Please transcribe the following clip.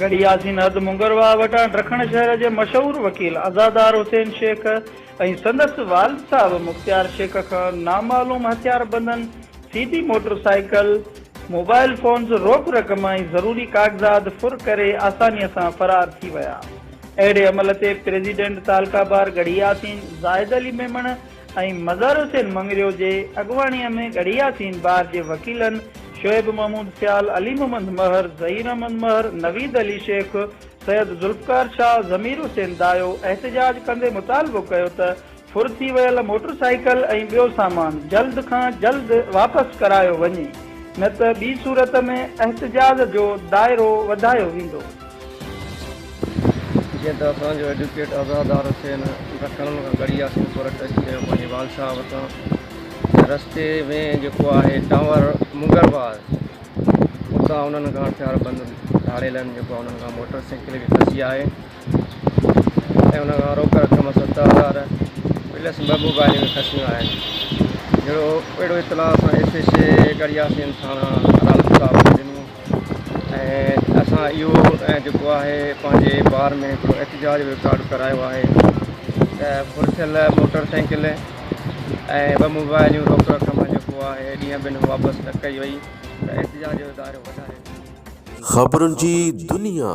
ڳڙهي ياسين حد مونگر واهه وٽان ڊکڻ شهر جي مشهور وڪيل عزادار حسين شيخ ۽ سندس والد صاحب مختيار شيخ کان نامعلوم هٿياربندن C D motorcycle, mobile phones, روڪ رقم ۽ ضروري ڪاغذات ڦر ڪري آسانيء سان فرار ٿي ويا. اهڙي عمل تي پريزيڊنٽ تعلقه بار ڳڙهي ياسين زاهد علي ميمڻ، ۽ مظهر حسين مڱريو جي اڳواڻيء ۾ ڳڙهي ياسين بار جي وڪيلن شعيب محمود سيال، علي محمد مهر، ظهير احمد مهر، نويد علي شيخ، سيد ذوالفقار شاهه، ضمير حسين دايو احتجاج ڪندي مطالبو ڪيو ته ڦر ٿي ويل موٽر سائيڪل ۽ ٻيو سامان جلد کان جلد واپس ڪرايو وڃي نه ته ٻي صورت ۾ احتجاج جو دائرو وڌايو ويندو. جيئن ته اسان جو ايڊوڪيٽ عزادار حسين ڊکڻ کان ڪڙي ياسين پور ٽچ ڪيو پنهنجي وال صاحب وٽان ته رستي ۾ جيڪو آهي ٽانور مغل وار اتان انهن کان هٿيار بند ڌاڙيلن جيڪو انهن کان موٽر سائيڪل به کسي آهي ۽ ان کان روڪ رقم ست هزار پلس ٻه موبائلون به کسيون آهن جهڙو اهڙو اطلاع اسان ايس ايس اي ڪڙي ياسين ٿاڻا عدالت صاحب کي ڏنو ۽ اسان اهو جيڪو آهي پنهنجي بار ۾ هڪڙو احتجاج رڪارڊ ڪرايو آهي ته ڦر ٿيل موٽر سائيڪل ۽ ٻه موبائلون روڪ رقم جيڪو آهي ڏينهن ٻن واپس نه ڪئي وئي ته احتجاج جو دائرو وڌائي خبرن جي دنيا